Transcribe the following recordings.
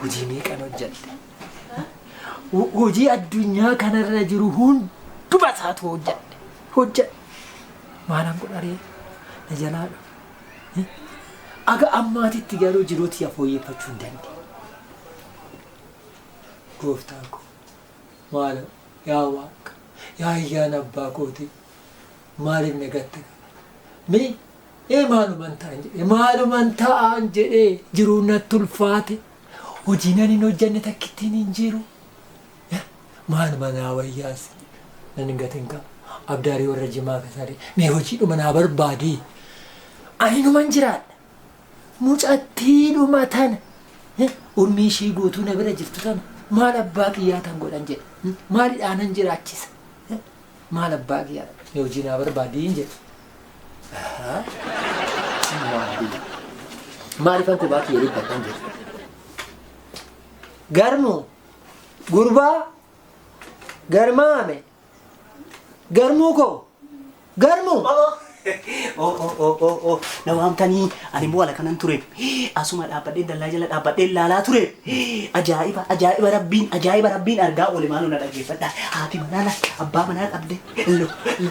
hojii meeqan hojjette hojii addunyaa kanarra jiru hunduma isaatu hojjette hojjette maalan godharee na jalaa dhufe aga ammaatitti garuu jiruuti ya fooyyeffachuu hin dandeenye Gooftaa koo maaloo yaa Waaqa yaa ayyaana abbaa kootii maaliif na gatte mi ee maaluman ta'an jedhee maaluman ta'an jedhee jiruu natti ulfaate hojii nan hin hojjanne takkittiin hin jiru maaluma naa wayyaas nan hin gatin qaba abdaarii warra jimaa kasaadee mee hojiidhuma naa barbaadii ani numan jiraadha mucattiidhuma tana eh, urmii ishii guutuu na bira jirtu tana maal abbaa kiyyaa tan godhan jedhe hmm, maalidhaanan jiraachisa Eh, maal abbaa kiyyaa ni hojii naa barbaadiin jedhe Ahaa. Subhaanallah. maaliifan kophaa kiyya dhibbadhan jedhe garmoo gurbaa garmaame Garmuu koo. Garmuu. Oo oo oo oo oo na waamtanii ani immoo ala kanan tureef asuma dhaabbadhee dallaa jala dhaabbadhee laalaa tureef ajaa'iba ajaa'iba rabbiin ajaa'iba rabbiin argaa oole maaloo na dhaggeeffadha haati manaa na abbaa manaa dhabde lo lo lo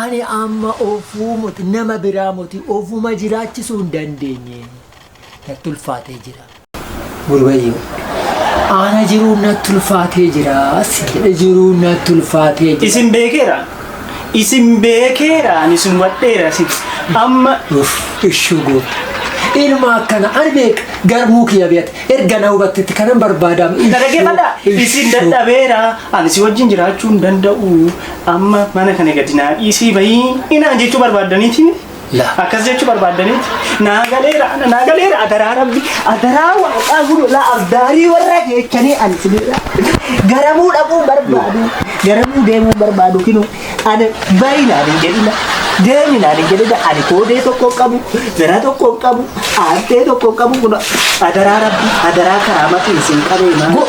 Ani amma ofuu moti nama biraa moti ofuma jiraachisuu hin dandeenye. Natti ulfaatee jira. Gurbayyoo. Ana jiruun natti ulfaatee jira. Sin jedhe jiruun natti ulfaatee jira. Isin beekeera. Isin beekeera. Ani isin hubadheera. Isin amma Uff, ishuu goota. Ilma akkana ani beeka garmuu kiyya beekte erga na hubattetti kanan barbaadaam. na dhaggeeffadha. Isin dadhabeera. Ani si wajjin jiraachuu hin danda'u. Amma mana kana gadi naa dhiisii bahii inaan jechuu barbaaddaniiti miti. La. Akkas jechuu barbaaddaniiti. Naa galeera ana naa galeera adaraa rabbi adaraa waaqaa gurulaa abdaarii warra keechanii ani sinirra. Garamuu dhaquu barbaadu garamuu deemuu barbaadu kinu ana bahi naan hin jedhina. Deemi naan hin jedhina ani koodee tokko hin qabu zara tokko hin qabu aantee tokko hin qabu kun adaraa rabbi adaraa karaa matiin sin qabee maal.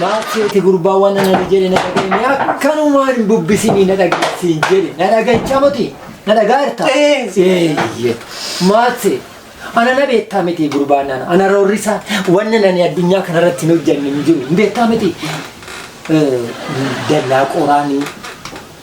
Maakseeti gurbaa waan ana ni jedhe na dhageenye akkanumaan hin bubbisinii na dhageessiin jedhe na dhageenyaa moti na dhagaa jirta. Eeyyee maaksee ana na beektaa miti gurbaa nana ana roorrisaa wanna nani addunyaa kanarratti hin hojjanne hin jiru hin beektaa miti. Eh, Dallaa qoraanii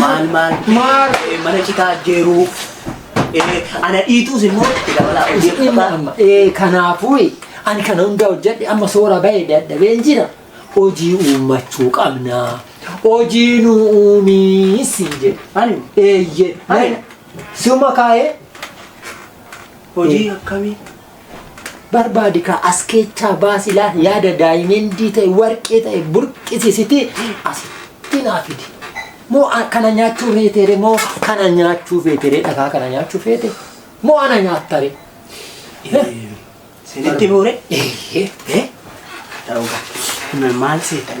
maal maal Maal? eh, mana citaa jeeruu eh, ana dhiituus immoo itti dabalaa hojii Dhimma qabaa. amma ee kanaafuu ani kana hundaa hojjedhe amma soora ba'e dadhabeen jira hojii uummachuu qabna hojii nu uumii siin jedhe Ani eeyyee Ani. siuma kaa'ee hojii akkamii? Barbaadi kaa as keechaa baasi laa yaada daayimendii ta'e warqee ta'e burqisisiti asitti naa fidi. Moo a- kana nyaachuu feetere moo kana nyaachuu feetere dhagaa kana nyaachuu feete moo ana nyaattare. Sinitti muure? Eeyyee. Eh? Ta'uudha. Maal seetan?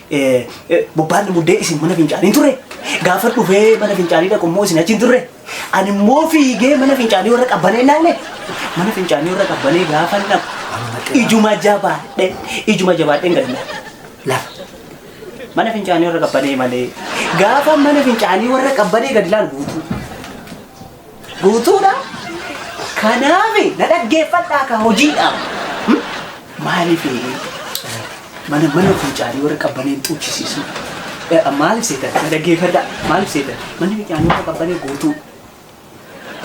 Bobbaan muddee isin mana fincaanii hin turre. Gaafa dhufee mana fincaanii dhaqu immoo isin achi hin turre. Ani immoo fiigee mana fincaanii warra qabbanee ilaale. Mana fincaanii warra qabbanee gaafa dhaqu ijuma jabaadhe ijuma jabaadheen gadi laale. Lafa. Mana fincaanii warra qabbanee malee gaafa mana fincaanii warra qabbanee gadi laalu guutuu. Guutuudha. Kanaafi na dhaggeeffadhaa ka hojiidhaaf. Hmm? Maaliif mana mana fincaanii warra qabbaneen xuuchisiisu? Eh, Maaliif seetan? Na dhaggeeffadhaa. Maaliif seetan? Manni fincaanii warra qabbanee guutuu.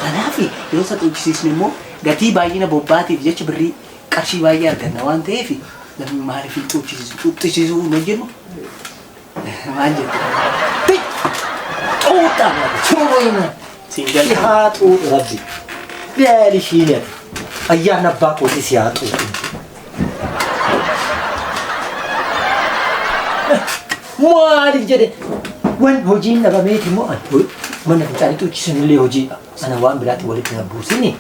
Kanaaf yoo isa xuuchisiisne immoo gatii baay'ina bobbaatiif jecha birrii qarshii baay'ee arganna waan ta'eef namni maaliif hin xuuchisiisu xuuchisiisuu hin hojjennu Maal jette? Ti! Xuuxxa! Xuuxuu hima! Siin Si jalqabu. haa xuuxu rabbi. Beeli ishiin jedhe. Ayyaan abbaa kootii si haa xuuxu. Maaliif jedhe? Wan hojiin dhabameeti moo ani? Mana fincaanii xuuchisuun illee hojiidha. Ana waan biraatti walitti na buusini.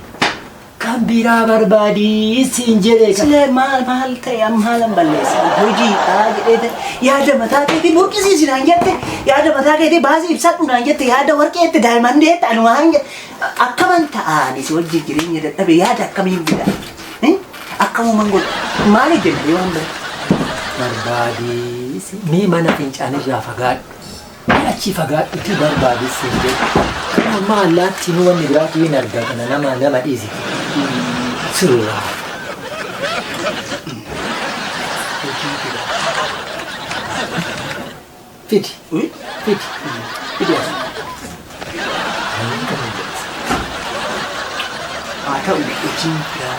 Kan biraa barbaadi siin jedhee kan. Silee maal maal ta'e amma haalan balleessa. Hojii kaa jedhee ta'e yaada mataa keetii burqisiisi naan jette yaada mataa keetii baasii ibsadhu naan jette yaada warqee itti daa'imman deette ani waan jedhe akkaman ta'aani si wajjin jireenya dadhabe yaada akkamiin bida. Eh? Akkamuman godha. Maal hojjenna yoo hin barbaadi. Barbaadi mee mana fincaanirraa fagaadhu. Mee achii fagaadhutii barbaadi siin jedhe. Kana amma allaattiin wanni biraatu hin arga kana nama nama dhiise. Sirraa. Fidi. Fidi. Fidi as. Haa ta'u hojiin biraa.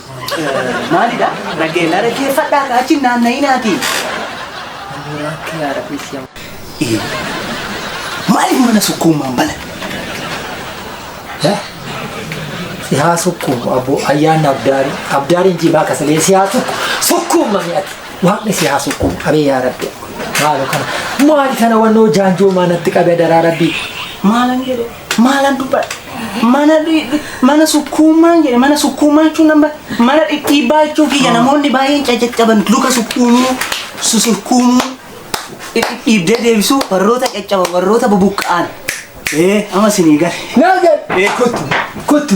Maalidha? Dhaggeella dhaggeeffadhaa kaa achi naanna'inaati. Ammoo akka yaa rabbi si amma. Ee. Maaliif mana sukkuummaan bana? Sihaa sukkuumu abbo ayyaanni abdaari abdaariin jimaa kasalee sihaa sukku sukkuuma mi'ati waaqni sihaa sukkuumu qabee yaa rabbi maalo kana maali kana wannoo jaanjoo maanatti qabee daraa rabbi maalan jedhee. Maalan dubbadha? Mana dhi- dhi- mana sukkuumaan jedhe mana sukkuumaa jechuun nama mana dhidhiibbaa jechuu kiyya namoonni baay'een caccaban luka sukkuumuu susurkuumuu dhidhiibdee deebisuu warroota caccaban warroota bubuqqa'an ee amma sinii gale. Naa gale. Ee kottu kottu.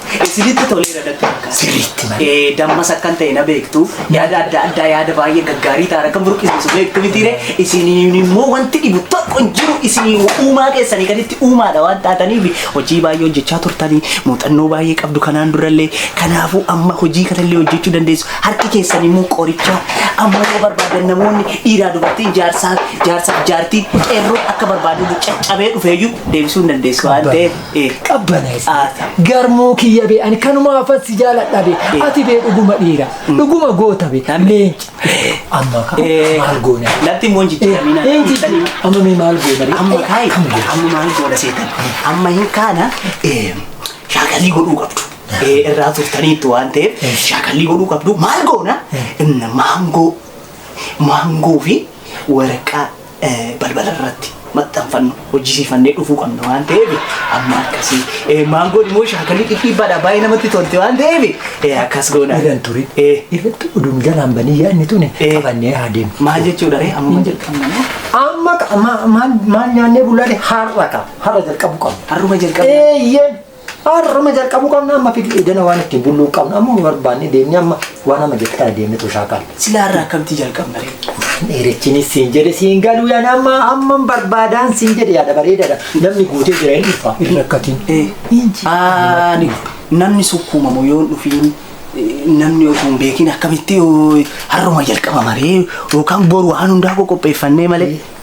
Isinitti toleera natti fakkaata. Sirriitti malee. Eh, Dammas akkan ta'e na beektu yaada adda addaa yaada baay'ee gaggaarii ta'an akka burqisiisu beektu mitiire isiniin immoo wanti dhibu tokko hin jiru isinii uumaa keessanii gaditti uumaadha waan taataniif hojii baay'ee hojjechaa turtanii muuxannoo baay'ee qabdu kanaan durallee kanaafuu amma hojii kanallee hojjechuu dandeessu harki keessan immoo qoricha amma yoo barbaadan namoonni dhiiraa dubartiin jaarsaa jaarsaa jaartiin qeerroo akka barbaadu caccabee dhufeeyyuu deebisuu hin dandeessu waan ta'eef qabbanaa'es garmuu kiyya bee ani kanumaafan si jaaladha bee ati bee dhuguma dhiira dhuguma goota bee leenci amma kaa maal goona Latti immoo hin jijjiiramina. leenci amma mee maal goona bee Amma kaayi. kam goona Amma maal goona seetan. Amma hin kaana eh, shaakallii godhuu qabdu. Eh, Irraa turtaniitti waan ta'eef shaakallii godhuu qabdu. Maal goona? Inna maangoo. Maangoo fi waraqaa balbala irratti maxxanfannu hojjisiifannee dhufuu qabna waan ta'eef amma akkasii maangoon immoo shaakalii dhidhiibbaadha baay'ee namatti tolti waan ta'eef akkas goona. Iran ture. Irratti oduun jalaan banii yaadni tuni qabannee haa deemu. Maal jechuudha ree amma jalqabna moo? Amma maal nyaannee bullaale har'a qaba. Har'a jalqabu qaba. Har'uma jalqabna. Eeyyeen. Har'uma jalqabuu qabna amma fidii edana waan ittiin bulluu qabna amma nu barbaanne deemne amma waan amma jette kana deemne tuu shaakaala. Silaa irraa akkamtii jalqabna ree? Dheerichinis siin jedhe siin galuu yaan amma amma barbaadaan siin jedhe yaada bareedaadha. Namni guutee jira hin dhufa hin rakkatiin. Ani namni sukkuumamu yoo hin dhufiin namni osoo hin beekin akkamitti har'uma jalqabama ree yookaan boru waan hundaa qopheeffannee malee.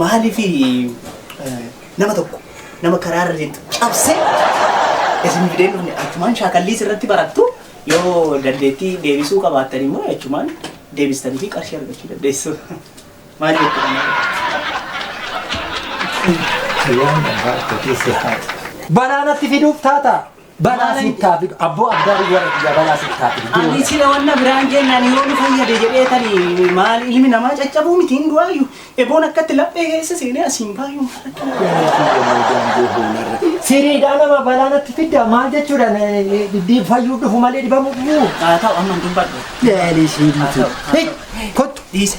Maaliif nama tokko nama karaa irra deemtu cabsee isin fidee dhufne achumaan shaakalliis irratti barattu yoo dandeettii deebisuu qabaattan immoo achumaan deebistanii fi qarshii argachuu dandeessu. Maal jechuudha? Banaanatti fiduuf taata. Balaa sitti haa fidu. Abboo abdaarii warra biyyaa balaa sitti haa fidu. Ani sila wanna biraan jennaan yoo nu fayyade jedheetani maal ilmi namaa caccabuu miti hin du'aayu eboon akkatti laphee keessa seenee asiin baay'uu Siriidhaa nama balaa natti fidda maal jechuudha dhibbii fayyuu dhufu malee dhibamuu dhufuu. haa ta'u amma hin dubbadhu Laalii siiriitu. Kottu. dhiise